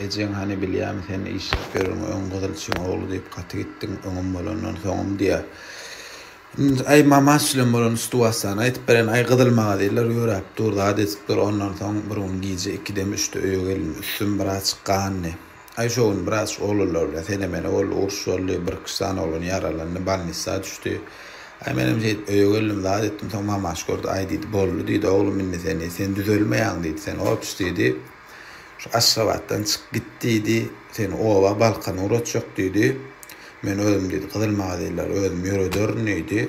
Ejeň hany bilýämi sen işläp ýörüň öň gyzylçyň ogly diýip gaty gitdiň öňüm bolandan soňum diýýä. Indi aý mama şülem bolan stuwassany aýtyp beren aý gyzyl maňa diýdiler ýöräp dur zat edipdir ondan soň bir gün gije ikidemi üçde öýe geldim üstüm biraz gandy aý şo gün biraz oglanlar bilen sene mene boldy uruş boldy bir iki sany oglan ýaralandy balnissa düşdi aý menem şeýdip öýe geldim zat etdim soň mamaş gördi aý diýdi boldy diýdi oglum indi seni sen düzelmeýäň diýdi sen ops diýdi. Şu Aşgabatdan çyk git diýdi. Seni oba, Balkana ugratjak diýdi. Men özüm diýdi, gyzyl magazinleri özüm ýörederin diýdi.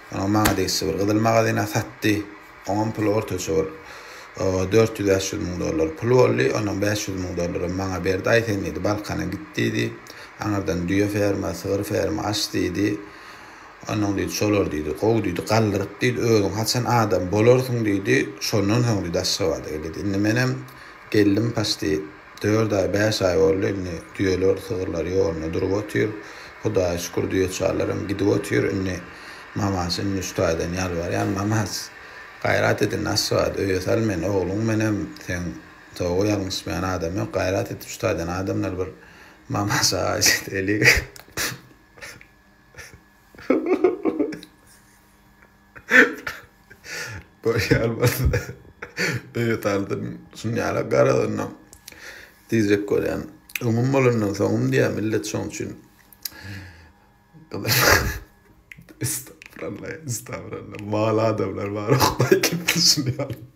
Soňam maňa degişli bir gyzyl magazin-ä satdy. Oňam puly ortaça bir dört ýüz-bäş ýüz müň dollar pul boldy. Ondan bäş ýüz müň dollaram maňa berdi. Aý, sen diýdi, Balkana git diýdi. Aňyrdan düýe ferma, sygyr ferma aç diýdi. Onnoň diýdi, şolar diýdi, gowy diýdi, galdyryp diýdi, özüň haçan adam bolarsyň diýdi, şondan soň diýdi, Aşgabada gel diýdi. Indi menem geldim, paçti dört aý, bäş aý boldy, indi düýeler, sygyrlar ýolunda durup otyr. Hudaýa şükür, düýeçarlaram gidip otyr. Indi Mamaç, indi üç taýdan ýalbarýan, Mamaç, gaýrat et indi, Aşgabat, öýe sal meni, ogluň menem, seň toba ýalňyşmaýan adam ýok, gaýrat et, üç taýdan adamlar bir Mamaç aga, şeýdip eli Görýän bolsa, öýe saldyryn. Şunyala garazynam diýjek bolýan. Öňüm bolandan soňum diýýär millet şoň üçin. Estagfuralla, estagfuralla. Mal adamlar bar, Hudaý kim düşünýär.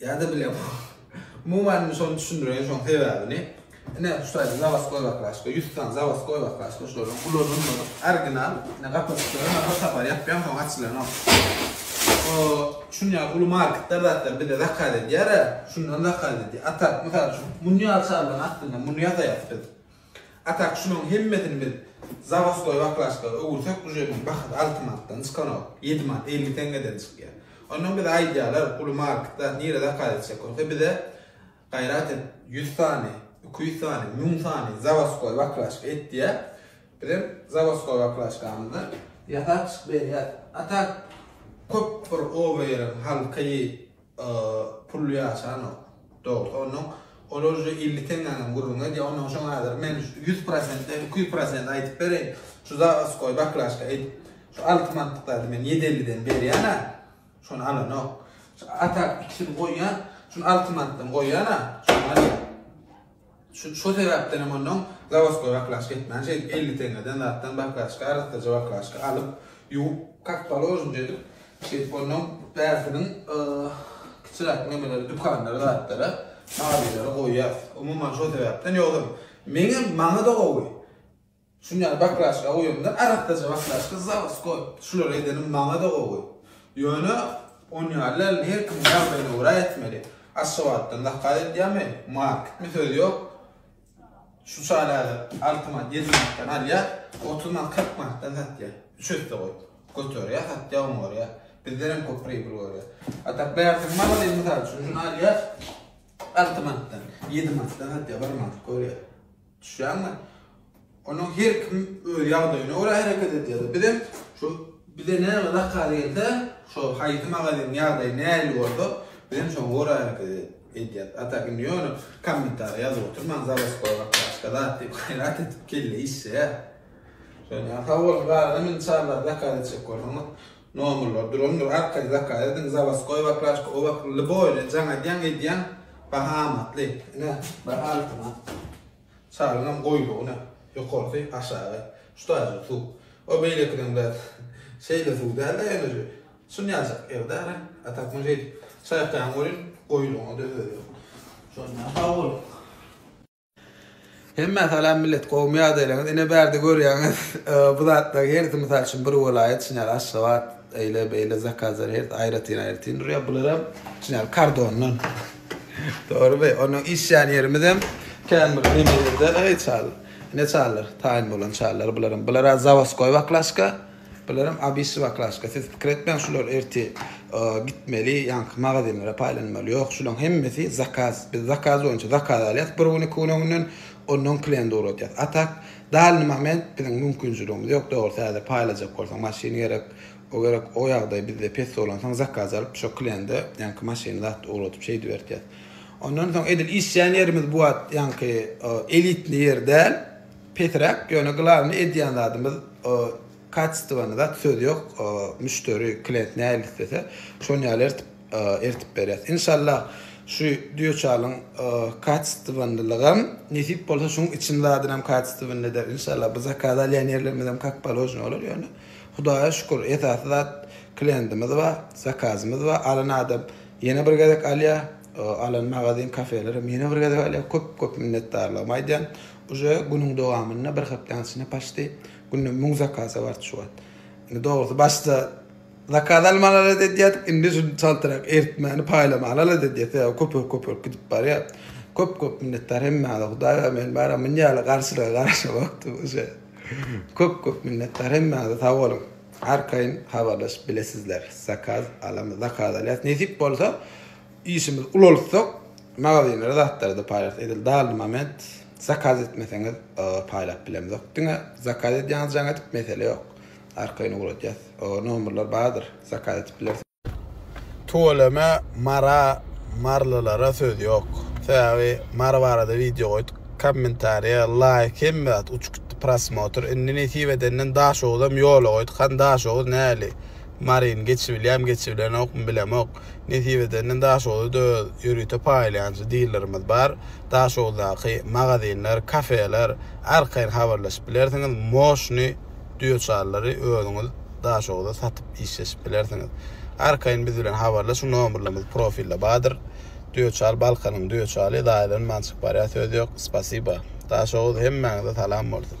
Ýa-da bilemok. Umuman indi şony düşündireýin şoň sebäbini. Ine şu taýda zawas goýbak başga, ýüz sany zawas goýbak başga şolaryň ulanylmadyk orginal ine gapajyklary bar bir sapar ýapýaň soň açylanok. O şun ýaly uly marketler zatlar bize zakaz edýär-ä, şundan zakaz edýär. Atak mysal üçin muny ýaly şallaryň astynda muny ýazaýarys biz. A tak şularyň hemmesini biz zawostoý baklaçka öwürsek bujeriniň bahasy alty manatdan çykanok, ýedi manat elli teňňeden çykýar. Ondan bize aýdýarlar uly market zat nirä zakaz etjek bolsa bize gaýrat et ýüz sany, iki ýüz sany, müň sany zawostoý baklaçka et diýýär. Bizem zawostoý baklaçkamyzdan ýasap çykyp berýäs. A tak köp bir oba ýeriň halky, Pully ýaşanok. Dogry. Onnoň ol uje elli teňňäňem gürrüň edýär. Onnoň şoň häzir men ýüz prosentden iki ýüz prosent aýdyp bereýin. Şu zawaskoý baklažka edip, şu alty manatlyk zady men ýedi elliden berýän-ä. Şony alanok. Şu atak ikisini goýýan, şuny alty manatdan goýýan-a, şony alýan. Şo sebäpdenem onnoň zawoskoý baklažka etmän, şeýdip elli teňňeden zatdan baklažka, arassaja baklažka alyp, ýuwup, kak položnije edip, şeýdip onnoň bärsiniň kiçiräk nemeleri, dükanlara, zatlara, mabilere goýýas. Umuman, şo sebäpden, ýogsam, meňem, maňa-da gowy. Şunýaly bakraşka goýamda arassaja bakraşka zawodskoý. Şulary edenim maňada gowy. Ýöne onýalyny her kimiň ýagdaýyna görä etmeli. Aşgabatdan zakaz edýärmi, marketmi söz ýok. Şu çaýlary alty manat, ýedi manatdan alýar, otuz manat, kyrk manatdan satýar. Üç esse goý. Göterýär, satýar, oňarýar. Bizden hem köp pribil görýär. A tak bärsiňi magazin mysal üçin şuny alýar, alty manatdan, ýedi manatdan satýar, bir manat görýär. Düşýäňmi? Onuň her kim öz ýagdaýyna görä hereket edýär. Biz hem şu bize näme zakaz gelse, şo haýsy magazynyň ýagdaýy nähili bolsa, biz hem şoňa görä hereket edýäris. A tak indi ýöne kommentariýa ýazyp oturmaň, zawodskoý zat, başga zat diýip gaýrat edip kelle işleýär. Şonda sag boluň, galan hem indi çaglar zakaz etjek bolsaňyz, Nomerler durandyr arkaýyn zakaz ediň zawaskoý waklaşka o wak ly boýly jaň edýäň edýäň baha amatly ine bir altyna çalyňam goýlugy ine ýokarsy aşagy şutaýjyk suw o beýlekiden biraz şeýle suw dälde ýöne şun ýaljak ýerdäne a tak muny şeýdip çaýkaýaň welin goýlugyňada özü ýok şonda sag boluň. Hemmä salam millet gowmy ýagdaýlaryňyz ine bärde görýäňiz bu zatlaryň hersi mysal üçin bir welaýat şuny ýaly Aşgabat eýle beýle zakazlar hersi aýratyn aýratyn durýar bularam şuny ýaly kardondan dogrymy onuň işýän ýerimiz hem kän bir nemelerden eý çal ne çallar taýyn bolan çallar bularam bulara zawoskoý baklaşka Bularem abissiw aklaska siz pikir etmäň şular erti gitmeli ýaňky magazinlere paýlanmaly ýok şulaň hemmesi zakaz biz zakaz boýunça zakaz alýas bir gün iki gün öňünden onnoň klient ugradýas a tak dalyny moment biziň mümkinçiligimiz ýok dogrusu häzir paýlajak bolsaň maşyn gerek o gerek o ýagdaý bizde pes bolansoň zakaz alyp şo kliende ýaňky maşyny zat ugradyp şeýdip ertýas ondan soň edil işýän ýerimiz bu wagt ýaňky elitni ýer däl. Pesiräk ýöne glawny edýän zadymyz kacestwony zat söz ýok müşderi klient nähili islese şon ýaly ertip ertip berýas inşallah şu duýoçalyň kacestwonlylygam nesip bolsa şuň için zadynam kacestwony eder inşallah bu zakaz alýan ýerlerimizem kak položny bolar ýöne hudaýa şükür esasy zat klientimiz bar zakazymyz bar alan adam ýene bir gezek alýar alan magazin kafelerem ýene bir gezek alýar köp köp minnetdarlygymy aýdýan Uje günüň dowamynda bir hepdäniň içinde paçti günde müň zakasa bardy şu wagt. Indi dogrusy başda zakaz almaly alat edýärdik, indi şuny çaltrak eritmäni paýlamaly alat edýäs, sebäbi köpelip köpelip gidip barýar. Köp köp minnetdar hemmäňize hudaý bar men baram muny ýaly garşylyga garaşamokdy uje. Köp köp minnetdar hemmäňize sag boluň. Arkaýyn habarlaşyp bilesizler zakaz alamy zakaz alýas nesip bolsa. Işimiz ulaltsak magazinlere zatlardy paýlarys edil dally moment zakaz etmeseňiz paýlap bilemzok diňe zakaz edýäňiz jaň edip mesele ýok arkaýyn ugradýas nomerler bardyr zakaz edip bilersiňiz. Tüweleme Mara Marylylara söz ýok sebäbi Mary barada wideo goýduk kommentariýa laýk hemme zat uçup gitdi prosmotr indi nesip edenden Daşoguzam ýola goýduk hany Daşoguz näli Maryny geçibilýämi geçibilenokmy bilemok Nesip edende Daşoguzda-da ýörite paýlaýançy dilerimiz bar. Daşoguzdaky magazinler, kafeler arkaýyn habarlaşyp bilersiňiz, moşny duýaçarlary özüňiz Daşoguza satyp işleşip bilersiňiz. Arkaýyn biz bilen habarlaşyň, nomerlerimiz profilde bardyr. Duýaçar Balkanyň duýaçary, zaýalanman çykyp barýar söz ýok. Spasiba. Daşoguz hemmäňize salam bolsun.